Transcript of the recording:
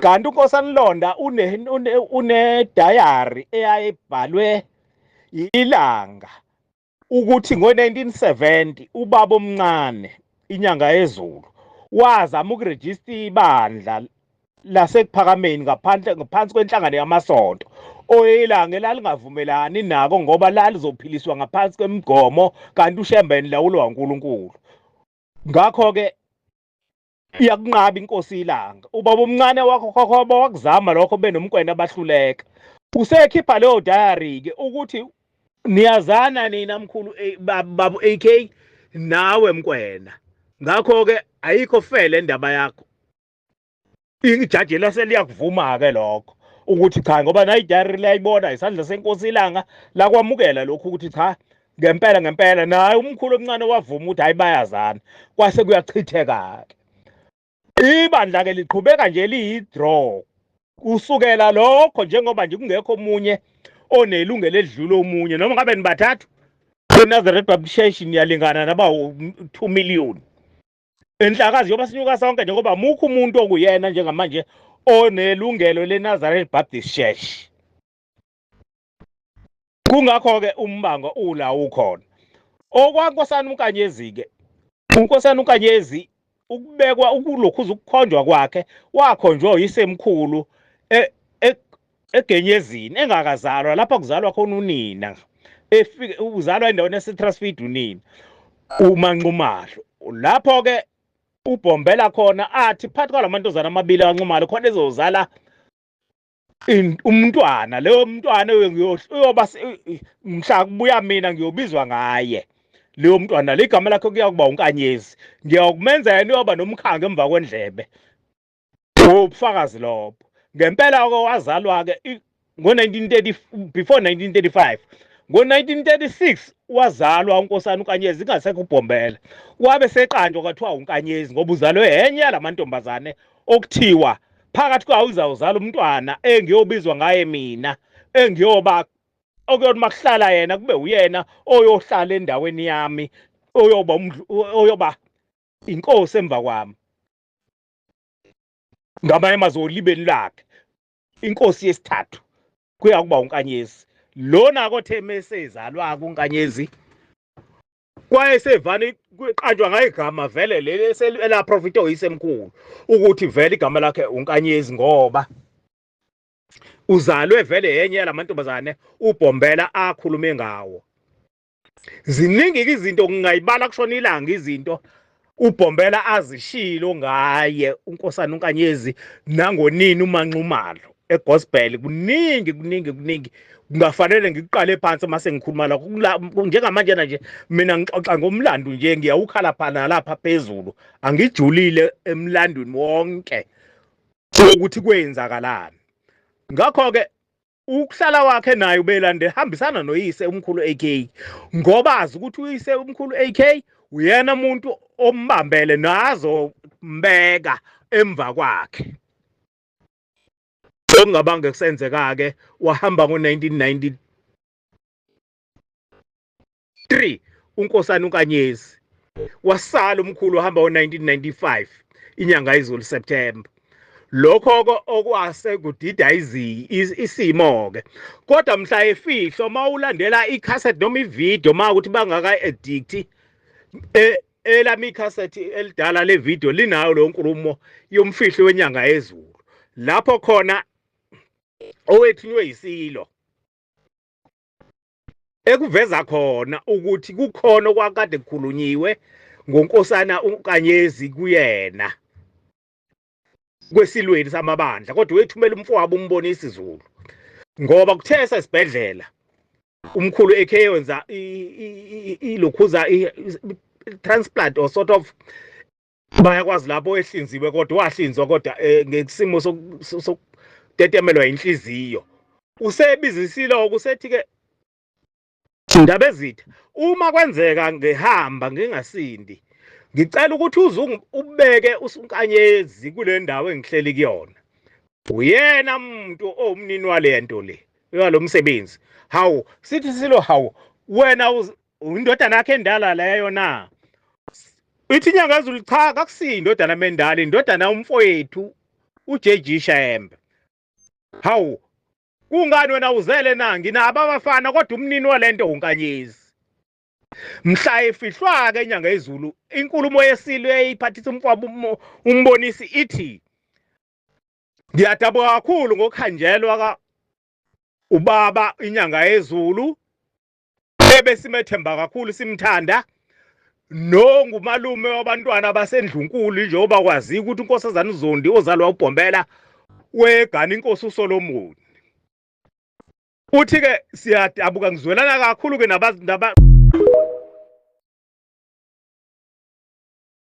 kanti unkosana Londa une une, une diary eyayibhalwe ilanga ukuthi ngo-1970 ubaba omncane inyanga yezulu wazama ukurejista ibandla lasekuphakameni ngaphandle ngaphansi kwenhlangano yamasonto oyilanga elalingavumelani nako ngoba lalizophiliswa ngaphansi kwemigomo kanti ushembeni lawulwa uNkulunkulu ngakho ke iyakunqaba inkosi ilanga ubaba omncane wakho khokhoba wakuzama lokho benomkwena abahluleka usekhipha leyo diary ke ukuthi niyazana nina mkhulu eh, babu AK nawe mkwena ngakho ke ayikho fele indaba yakho ijaji laseliyakuvuma ke lokho ukuthi cha ngoba nayi diary liyayibona isandla senkosi ilanga lakwamukela lokho ukuthi cha ngempela ngempela naye umkhulu omncane wavuma ukuthi hayi bayazana kwase kuyachitheka-ke ibandla-ke liqhubeka nje liyi-draw kusukela lokho njengoba nje kungekho omunye onelungelo edlule omunye noma ngabe nibathathu inazareth baptist church niyalingana naba 2 million enhlakazi yoba sinyuka sonke njengoba mukho umuntu okuyena njengamanje onelungelo lenazareth baptist church kungakho ke umbango ula ukhona okwankosana unkanyezi ke unkosana unkanyezi ukubekwa ukulokhuza ukukhonjwa kwakhe wakhonjwa yisemkhulu e, e, egenyezini engakazalwa lapha kuzalwa khona unina efike uzalwa endaweni yaseTrustfeed unina umanxumahlo lapho ke ubhombela khona athi phakathi kwalamantombazana amabili anxumalo khona ezozala umntwana leyo mntwana uyoba mhla kubuya mina ngiyobizwa ngaye leyo mntwana ligama lakhe kuyakuba unkanyezi ngiyakumenza yena uyoba nomkhange emva kwendlebe ubufakazi lobo ngempela ke wazalwa ke ngo-1930 before 1935 ngo-1936 wazalwa unkosana unkanyezi ingasekho ubhombela wabe seqanjwa kwathiwa unkanyezi ngoba uzalwe enye yalamantombazane okuthiwa phakathi kwawo ngizawuzala umntwana engiyobizwa ngaye mina engiyoba okuyona makuhlala yena kube uyena oyohlala endaweni yami oyoba oyoba inkosi emva kwami ngamanye amazwi olibeni lakhe inkosi yesithathu kuya kuba unkanyezi lona kothe mesezalwa kunkanyezi kwaye sevani kuqanjwa ngayo igama vele leli elaprofita oyisemkhulu ukuthi vele igama lakhe unkanyezi ngoba uzalwe vele yenye yalamantombazane ubhombela akhulume ngawo ziningi izinto ngingayibala kushona ilanga izinto ubhombela azishilo ngaye unkosana unkanyezi nangonini umanxumalo egospel kuningi kuningi kuningi kungafanele ngiqale phansi uma sengikhuluma lakho njengamanjena nje mina ngixoxa ngomlando nje ngiyawukhala phana lapha phezulu angijulile emlandweni wonke ukuthi kwenzakalani ngakho-ke ukuhlala wakhe naye ubelande hambisana noyise umkhulu AK ngoba azi ukuthi uyise umkhulu AK uyena umuntu ombambele nazo mbeka emva kwakhe okungabanga kusenzeka ke wahamba ngo1990 3 uNkosana uNkanyezi wasala umkhulu wahamba ngo-1995 inyanga izulu September lokho okwase kudida isimo-ke kodwa mhla efihlo uma ulandela ikhasethi noma ividiyo uma ukuthi bangaka-edikthi e, elami ikhasethi elidala levidiyo linayo leyo nkulumo yomfihlo wenyanga yezulu lapho khona owethunywe yisilo ekuveza khona ukuthi kukhona okwakade kukhulunyiwe ngonkosana uNkanyezi kuyena kwesilweni samabandla kodwa wethumela umfowabo umbone isiZulu ngoba kuthe esesibhedlela umkhulu ekhe yenza ilokhuza transplant or sort of bayakwazi lapho ehlinziwe kodwa wahlinzwa kodwa eh, ngesimo sokutetemelwa inhliziyo usebizisile okusethi ke indaba ezitha uma kwenzeka ngihamba ngingasindi ngicela ukuthi uze ubeke usunkanyezi kule ndawo engihleli kuyona uyena muntu owumnini wale nto le yalo msebenzi hawu sithi silo hawu wena Indodana yakhe endala leyo na? Ithi inyanga ezulu cha kakusiyi indodana mendala indodana umfowethu uJJ Shembe. Hawu kungani wena uzele na nginabo abafana kodwa umnini walento unkanyezi. Mhla efihlwa ke inyanga ezulu inkulumo yeSilo eyiphathisa umfwabo umbonisi ithi Ngiyadabuka kakhulu ngokuhanjelwa ka ubaba inyanga yezulu ebesimethemba kakhulu simthanda nongumalume wabantwana basendlunkulu njengoba kwaziwa ukuthi unkosazana uzondi ozalwa ubhombela wegana inkosi usolomoni uthi-ke siyadabuka ngizwelana kakhulu-ke